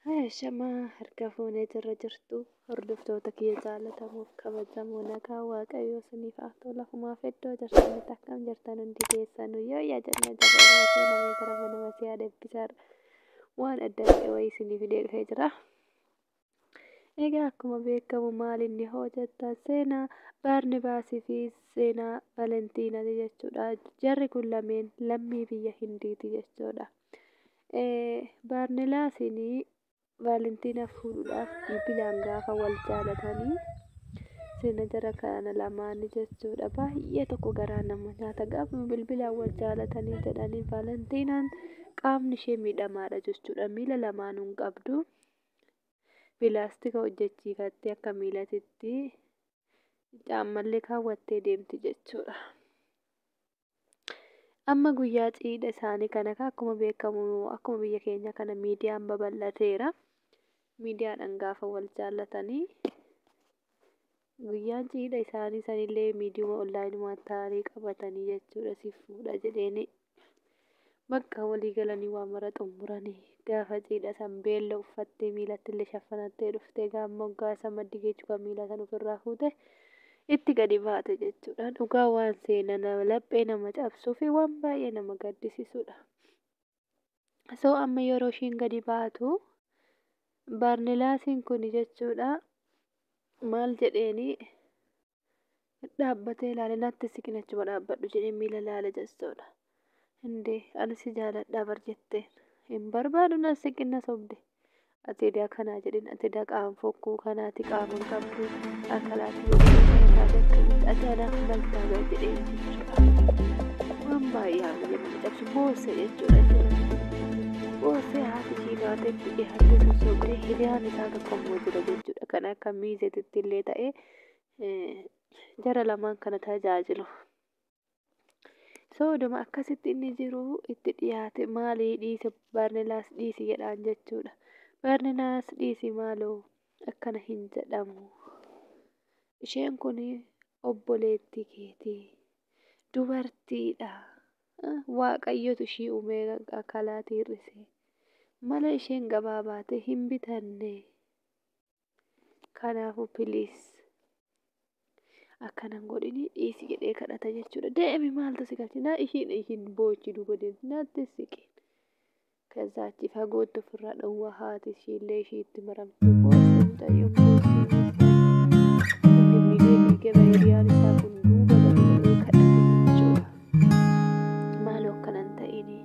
Haya shamaa harka fuunee jirra jirtu hordoftoota kiyya jaalatamuuf kabajamoo nagaa waaqayyo isiniif haa ta'u lafumaaf iddoo jirtanitti akkam jirtan hundi keessanu yoo yaa jenna jirra baasee namee gara mana masii haa deebisarra waan adda ta'e wayii isiniif hidhee dhufee jira. Egaa akkuma beekamu maal inni hoo jettan seenaa Baarnibaasii fi seenaa Valentiinaati jechuudha. Jarri kun lameen lammii biyya Hindiiti jechuudha. Baarnilaasiin Valentiina fuudhuudhaaf bilbilaan gaafa wal jaalatanii seena jara kana lamaanii jechuudha. Baay'ee tokko garaa nama nyaata. Gaafuma bilbilaan wal jaalatanii jedhanii Valentiinaan qaamni ishee miidhamaadha jechuudha. Miila lamaanuu hin qabdu. Pilaastika hojjechiifattee akka miilatitti caammallee kaawwattee deemti jechuudha. Amma guyyaa ciidha isaanii kana akkuma beekamu akkuma biyya keenya kana miidiyaan babal'ateera. Miidiyaadhaan gaafa wal jaallatanii Guyyaan ciidha isaanii sanillee miidiyuma onlaayinumaan taa'anii qabatanii jechuudha siif fuudha jedheeni. Bakka walii galanii waa mara xumuranii gaafa ciidha san beella uffattee miilatti illee shaffanattee dhuftee gaamma hoggaasa maddi geechuu kan miilaa san ofirraa fuute itti gadi baate jechuudha. Dhugaa waan seena laphee nama cabsuu fi waan baay'ee nama gaddisiisudha. so amma yeroo ishiin gadi baatu baarnilaasiin kun jechuudha maal jedheeni dhaabbatee ilaale natti siqin achuma dhaabbadhu jedhee miila ilaale jechuudha indee ani si jaaladhaa bar jetteen hin barbaadu na siqin na sobde Ati edaa kanaa jedhin ati edaa qaama fokkuu kanaati qaama hin qabdu akalaati yoo jedhan kana taate akkamitti ati anaaf maal taata jedhee jechuudha. Waan baay'ee haala jedhama cabsu boosse jechuudha jechuudha. Boosse haati ishii baatetti dhiyaatee sossobdee hiriyaan isaa tokko immoo jira jechuudha. Kan akka miizeetitti illee ta'ee jara lamaan kana tajaajilu. So oduma akkasitti inni jiru itti dhiyaate maali dhiisi Barnilaas dhiisi jedhaan jechuudha. Barnilaas dhiisi maaloo akkana hin jedhamu. Isheen kun obboleettii keeti. Dubartiidha. Waaqayyotu ishii uumee akalaatii hir'ise. Mala isheen gabaa baate hin bitanne. Kanaafuu piliis akkana hin godhini dhiisi jedhee kadhata jechuudha. Deemi maaltu si galche? Na ishiin ishiin boochi duuba deemti natti siqeen. Kazaa achi fagootti ofirraa dhowwaa haati ishiillee ishii itti maramte boossa mucayyoo boossa inni miidhagee gaba hiriyaan isaa kun duuba gabaabee kadhate jechuudha. Maaloo akkanan ta'ini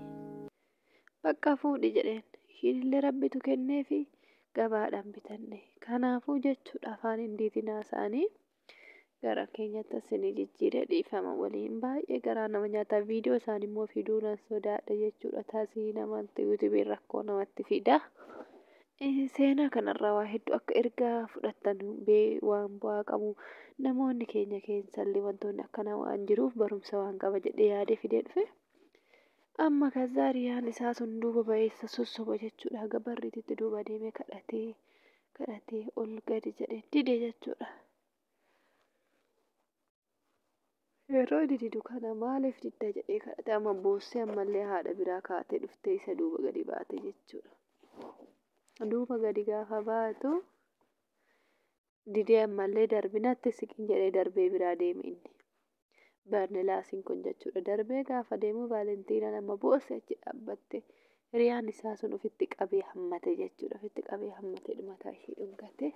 Bakka fuudhi jedheen. Ishiinillee Rabbitu kenneefi gabaadhaan bitanne. Kanaafuu jechuudha afaan Hindiitiin haasa'anii gara keenyatti asini jijjiire dhiifama waliin baay'ee garaa nama nyaata viidiyoo isaanii immoo fiduu nan sodaadha jechuudha tasii namatti yuutubiin rakkoo namatti fida seenaa kanarraa waa hedduu akka ergaa fudhattan bee waan bu'aa qabu namoonni keenya keessallee wantoonni akkanaa waan jiruuf barumsa waan qaba jedhee yaadee fidee dhufe Amma kazaa riyaan isaa sun duuba ba'ee isa sossoba jechuudha. Haga barriititti duuba deemee kadhatee kadhatee ol gadi jedhee dide jechuudha. Yeroo dididu kana maaliif didda jedhee kadhate amma boossee ammallee haadha biraa kaatee dhuftee isa duuba gadi baate jechuudha. Duuba gadi gaafa baatu Didee ammallee darbi natti siqin jedhee darbee biraa deeme inni. Barnilaasiin kun jechuudha. Darbee gaafa deemu Vaalentiinaan amma boosse achi dhaabbatte. Hiriyaan isaa sun ofitti qabee hammate jechuudha. Ofitti qabee hammate dhumataa ishee dhungate.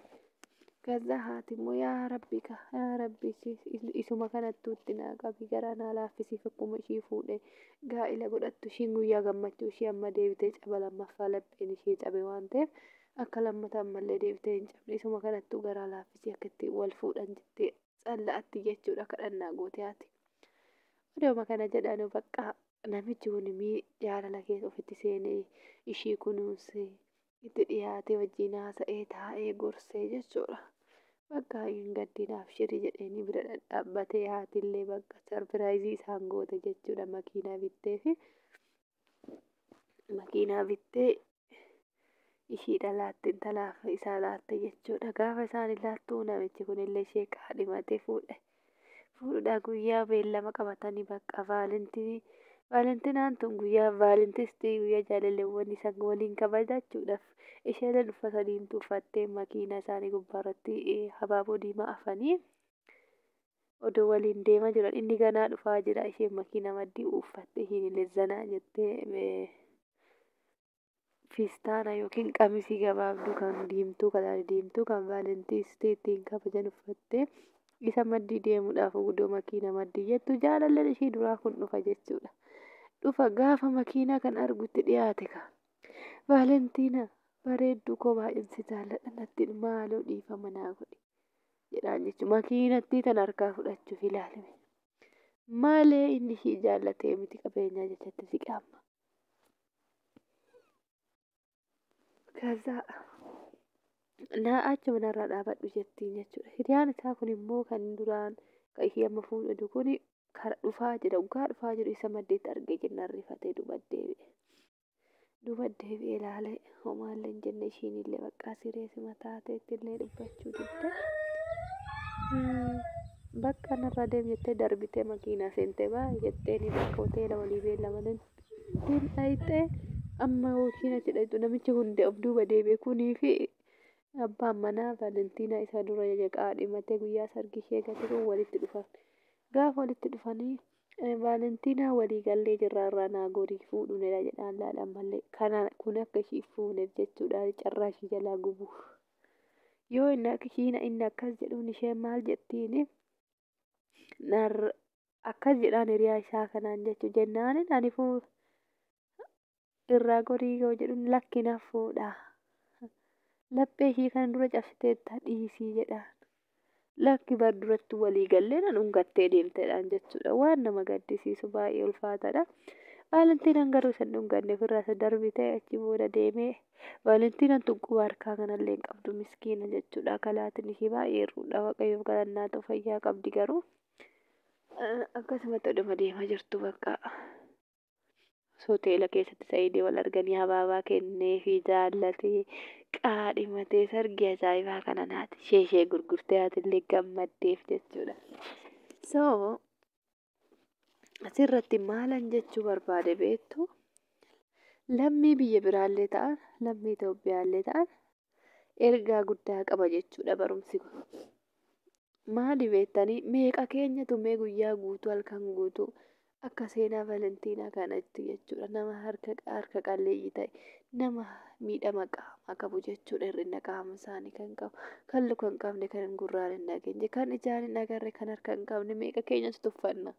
Gaza haati immoo yaa rabbi ka yaa rabbi isuma kanattuu itti naa qabi garaa naa laaffisiif akkuma ishii fuudhe gaa'ila godhattu ishiin guyyaa gammachuu ishii amma deebitee caba lammaffaa lapheen ishee cabe waan ta'eef Akka lammata ammallee deebitee hin cabne isuma kanattuu garaa laaffisii akka itti wal fuudhan jettee tsalla'atti jechuudha kadhannaa goote haati. Odooma kana jedhanu baqqaa namichi kun mii jaalala keessa ofitti seenee ishii kunuunsee itti dhiyaatee wajjin haasa'ee taa'ee gorsee jechuudha. Bakka hin gaddiin abshirii jedheenii bira dhadhaabbatee haatillee bakka sarpiraayizii isaan goote jechuudha makiinaa bitteefi. makiinaa bittee ishiidha laatte intalaaf isaa laatte jechuudha. Gaafa isaan laattu namichi kunillee ishee kaadhimatee fuudhe. Fuudhudha guyyaa beellama qabatanii bakka vaalentinii. Vaalentinaan tun guyyaa vaalentistii guyyaa jaalalleewwan isaan waliin kabajachuudhaaf isheen uffata diimtuu uffattee makiinaa isaanii gubbaarratti habaaboo diimaa afanii odoo waliin deema jiran inni ganaa dhufaa jira isheen makiina maddii uuffatte ishiin illee zanaa jettee fiistaana yookiin qamisii gabaabduu kan diimtuu kalaari diimtuu kan vaalentiistii ittiin kabajan uffattee isa maddii deemuudhaaf gudoo makiina maddii jettu jaalalleen ishii duraa kun dhufa jechuudha. Dhufa gaafa makiinaa kan argutti dhiyaate ka. Vaalentiina bareedduu koo baay'een si jaalladha nattiin maaloo dhiifama naa godhi. jedhaan jechuudha. Makiinattii tan harkaa fudhachuuf ilaalime. Malee inni ishii jaallatee miti qabeenyaa jechatti siqe amma. Kazaa naa achuma narraa dhaabadhu jettiin jechuudha. Hiriyaan isaa kun immoo kan duraan kan ishii amma fuudhatu kun kara dhufaa jira. Dhugaa dhufaa jiru isa maddeetti argee jennaan rifatee duuba deebi'e. duuba deebi'ee ilaalee homaallee hin jenne ishiinillee baqqaa sireesima taateettillee dubbachuu didde. Bakka narraa deem jettee darbitee makiinaa seentee baa jetteeni bakka hoteela walii beellamaniin ittiin dhayxee amma yookiin achi dhayxu namichi hundee of duuba deebi'e kunii fi abbaan manaa Valentiinaa isa dura jajaqaa dhimatee guyyaa sargii ishee gate kun walitti dhufan. Gaafa walitti dhufanii Vaalentinaa walii gallee jirra irraa naa gorii fuudhuunedha jedhaan laal ammallee kana kun akka ishii fuuneef jechuudha carraa ishii jalaa gubuuf yoo inni akka ishiin inni akkas jedhuun isheen maal jettiin nar akkas jedhaan hiriyaa isaa kanaan jechuu jennaanin ani fuu irraa gorii yoo jedhuun lakki na fuudha. Laphee ishii kana dura cabsiteetta dhiisii jedhaan. Lakki bar duratti walii gallee na dhungattee deemtedhaan jechuudha. Waan nama gaddisiisu baay'ee ulfaataadha. Vaalentiinaan garuu isa hin dhunganne ofirraa isa darbitee achi booda deemee Vaalentiinaan tun quba harkaa kanallee hin qabdu miskiina jechuudha. Kalaatiin ishii baay'ee hir'uudha. Waaqayyoof galannaa ta'u fayyaa qabdi garuu. Akkasumatti oduma deemaa jirtu bakka. hoteela keessatti sa'iidii wal arganii habaabaa kenneefii jaallatee qaadhimatee sargii ajaa'ibaa kana naati ishee ishee gurgurtee haatillee gammaddeef jechuudha. So asirratti maalan jechuu barbaade beektu lammii biyya biraallee ta'an lammii Itoophiyaallee ta'an ergaa guddaa qaba jechuudha barumsi kun. Maali beektanii meeqa keenya tumee guyyaa guutuu halkan guutuu akka seenaa Valentiinaa kanatti jechuudha nama harka harka qalleeyyii ta'e nama miidhama qaamaa qabu jechuudha hir'ina qaama isaanii kan qabu kan luka hin qabne kan hin gurraan hin dhageenye kan ijaan hin agarre kan harka hin qabne meeqa keenyatu tuffanna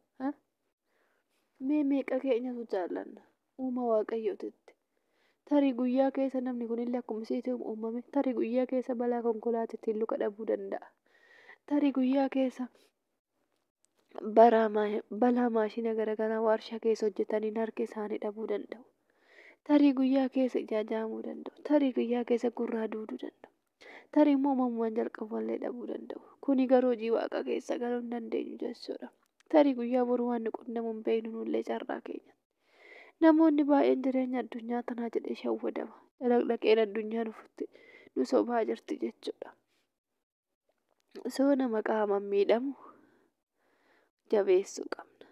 mee meeqa keenyatu jaallanna uuma waaqayyootitti. Tarii guyyaa keessa namni kun illee akkuma isiitti uumame, tarii guyyaa keessa balaa konkolaatiitiin luka dhabuu danda'a. Tarii guyyaa keessa balaa maashina garaagaraa waarshaa keessa hojjetaniin harki isaanii dhabuu danda'u. Tarii guyyaa keessa ijaa jaamuu danda'u. Tarii guyyaa keessa gurraa duuduu danda'u. Tarii immoo uumamumaan jalqabumallee dhabuu danda'u. Kuni garuu hojii waaqaa keessa galuu hin dandeenyu jechuudha. Tarii guyyaa boruu waan nu qunnamu hin beeknu nullee carraa keenya. Namoonni baay'een jireenya addunyaa tanaa jedhee shawwadama. Dalaqdaqeen addunyaa nufutti nu sobaa jirti jechuudha. Osoo nama qaamaan miidhamu jabeessuu qabna.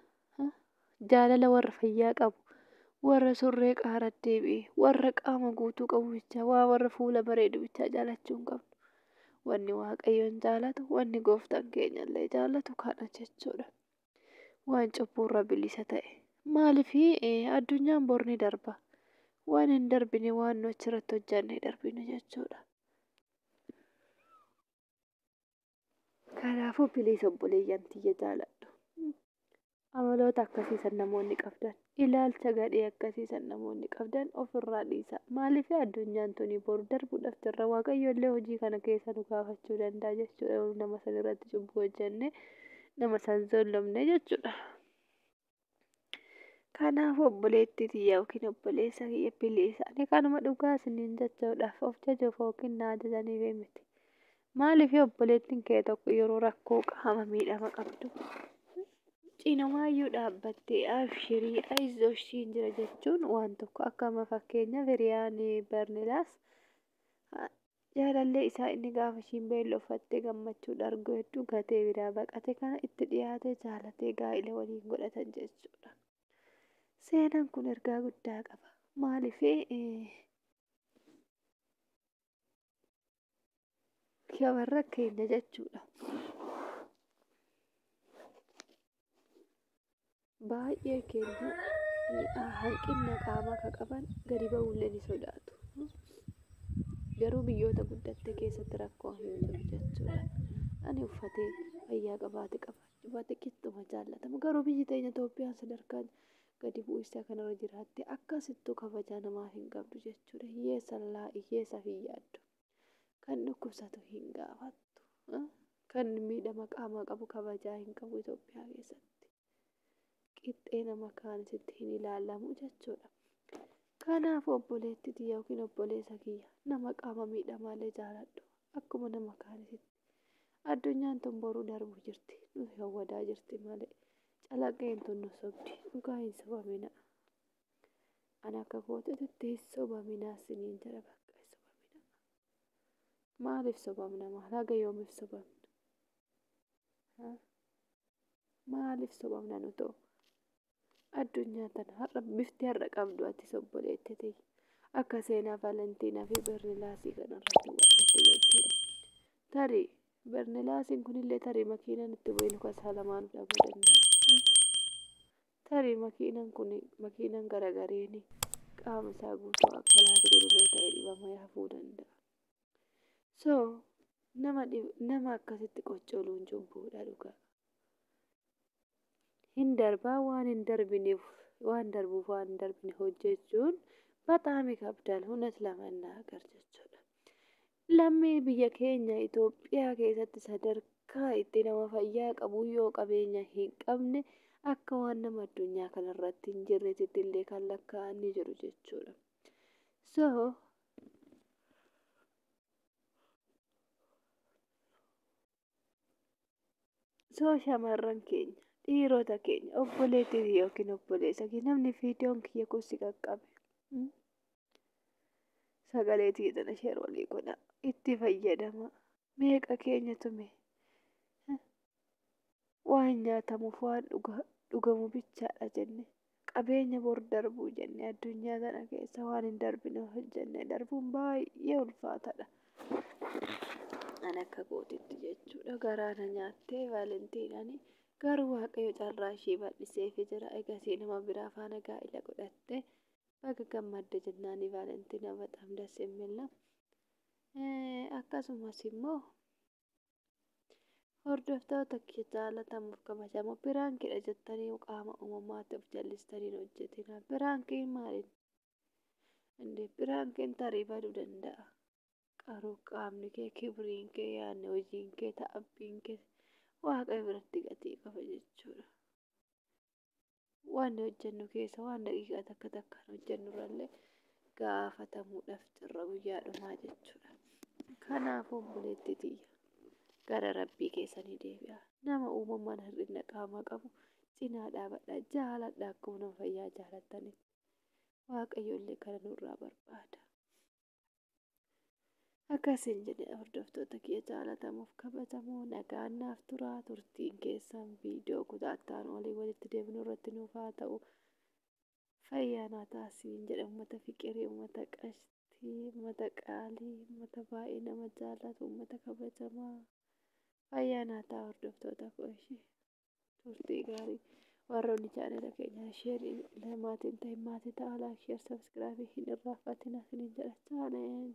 Jaalala warra fayyaa qabu, warra surree qaara deebi'e, warra qaama guutuu qabu bichaa, waa warra fuula bareedu bichaa jaalachuu hin qabnu. Wanni Waaqayyoon jaalatu, wanni gooftaan keenyallee jaalatu kana jechuudha. waan cubbuurra bilisa ta'e. Maaliif addunyaan bor ni darba. Waan hin darbine waan nu achirratti hojjanne darbinu jechuudha. Kanaafuu biliisa obboleeyyan tiyya jaaladhu. Amaloota akkasii san namoonni qabdan Ilaalcha gadhee akkasii san namoonni qabdan of irraa dhiisaa. Maaliif addunyaan tuni boru darbuudhaaf jirra. Waaqayyo illee hojii kana keessa nu gaafachuu danda'a jechuudha. Yoo nama san irratti cubbuu hojjenne nama san zollomne jechuudha. Kanaaf obboleettii tiyya yookiin obboleessa kiyya biliisa. Ani kanuma dhugaa isiniin jechuudhaaf of jajuuf yookiin na ajajaniif miti. Maaliif obboleettiin kee tokko yeroo rakkoo qaama miidhama qabdu cinamaayyuu dhaabbattee abshirii ayizoosh siin jira jechuun waan tokko akkama fakkeenyaaf hiriyaan barnilaas jaalallee isaa inni gaafa ishiin beellofattee gammachuu dhargoo hedduu gatee biraa baqate kana itti dhiyaatee jaalatee gaa'ila waliin godhatan jechuudha. Seenaan kun ergaa guddaa qaba. Maaliif shamarra keenya jechuudha. Baay'ee keenya hanqinna qaamaa akka qaban gadi ba'uullee ni sodaatu. Garuu biyyoota guddatte keessatti rakkoo hin jiru jechuudha. Ani uffatee fayyaa qabaate qabaachuu baate qixxuma jaallatamu. Garuu biyyi teenya Itoophiyaan sadarkaa gadi bu'insa kanarra jiraatte akkasittuu kabajaa namaaf hin qabdu jechuudha. Hiyyeessa laa hiyyeessaaf hin yaaddu. Kan dhukkubsatu hin gaafattu. Kan miidhama qaamaa qabu kabajaa hin qabu Itoophiyaa keessatti. Qixxee nama kaanisitti hin ilaalamu jechuudha. Kanaaf obboleettiti yookiin obboleessa kiyya nama qaama miidhamaallee jaaladhu akkuma nama kaanisitti. Addunyaan tun boruu darbu jirti. Nu hawwadaa jirti malee. Calaqqeen tun nu sobdi. Dhugaa hin sobamina. An akka kootitti hin sobaminaa siniin jira bakka hin sobamina. Maaliif sobamna maal haga yoomiif sobamna? Maaliif sobamna nu ta'u? addunyaa tana har'a bifti har'a qabdu ati sobboleetti ta'e akka seenaa Valentiinaa fi Bernilaasii kana irratti godhatte jechuudha. Tarii Bernilaasiin kunillee tarii makiinaan itti bu'ee luka isaa lamaan dhabuu danda'a. Tarii makiinaan kun makiinaan garagareeni qaama isaa guutuu akka laatu godhuloo ta'e dhibama yaafuu danda'a. So nama dhib- nama akkasitti qoccoluun cubbuudha dhugaa. Hin darbaa waan hin darbineef waan darbuuf waan hin darbine hojjechuun baxaami kabdaal hunet lamannaa gar jechuudha. Lammii biyya keenya Itoophiyaa keessatti sadarkaa itti nama fayyaa qabu yoo qabeenya hin qabne akka waan nama addunyaa kanarratti hin jirreetitti illee kan lakkaa'an ni jiru jechuudha. So Soo shamarran keenya dhiirota keenya obboleettii yookiin obboleessa kee namni viidiyoon kiyya kun si qaqqabe sagalee tiyya tana sheer walii godha itti fayyadama meeqa keenya tume Waa hin nyaatamuuf waan dhugamu bichaadha jenne qabeenya bor darbuu jenne addunyaa tana keessa waan hin darbine hojjenne darbuun baay'ee ulfaatadha. An akka kootitti jechuudha garaa na nyaattee vaalentiinani garuu waaqayyo carraa ishee bal'iseefi jira egasii nama biraa faana gaa'ila godhatte baga gammadde jennaani vaalentiina baxaam das imilla akkasumas immoo Hordoftoota kiyya jaalatamuuf kabajamoo biraankidha jettanii qaama uumamaatti of jallistanii hojjetina. Biraankiin maaliin? Indee biraankiin tarii baduu danda'a. Qaruu qaamni kee, kibriin kee, yaadni hojiin kee, ta'abbiin kee waaqayyo biratti gatii qaba jechuudha. waan hojjennu keessa waan daqiiqaa takka takkaan hojjennu irrallee gaafatamuudhaaf jirra guyyaa dhumaa jechuudha. Kanaaf obboleetti tiyya gara rabbii keessanii deebi'a. Nama uumamaan hir'ina qaamaa qabu cinaa dhaabadhaa jaaladhaa akkuma nama fayyaa jaalattanitti. Waaqayyo illee kana nurraa barbaada. Akkasiin jedhe hordoftoota kiyya jaalatamuuf kabajamoo nagaan naaf tura turtiin keessan viidiyoo kutaattaan olii walitti deebinu irratti nuuf haa ta'u fayyaa naa taasiin jedhe uummata fiqirii uummata qashtii uummata qaalii uummata baay'ee nama jaallatu uummata kabajamaa fayyaa naa ta'a hordoftoota koo ishee. turtii gaarii warra olii jaalala keenya sheerii maatiin ta'e maatii ta'a laak sheer sabskiraabii hin irraanfatina sin hin jedha chaalenji.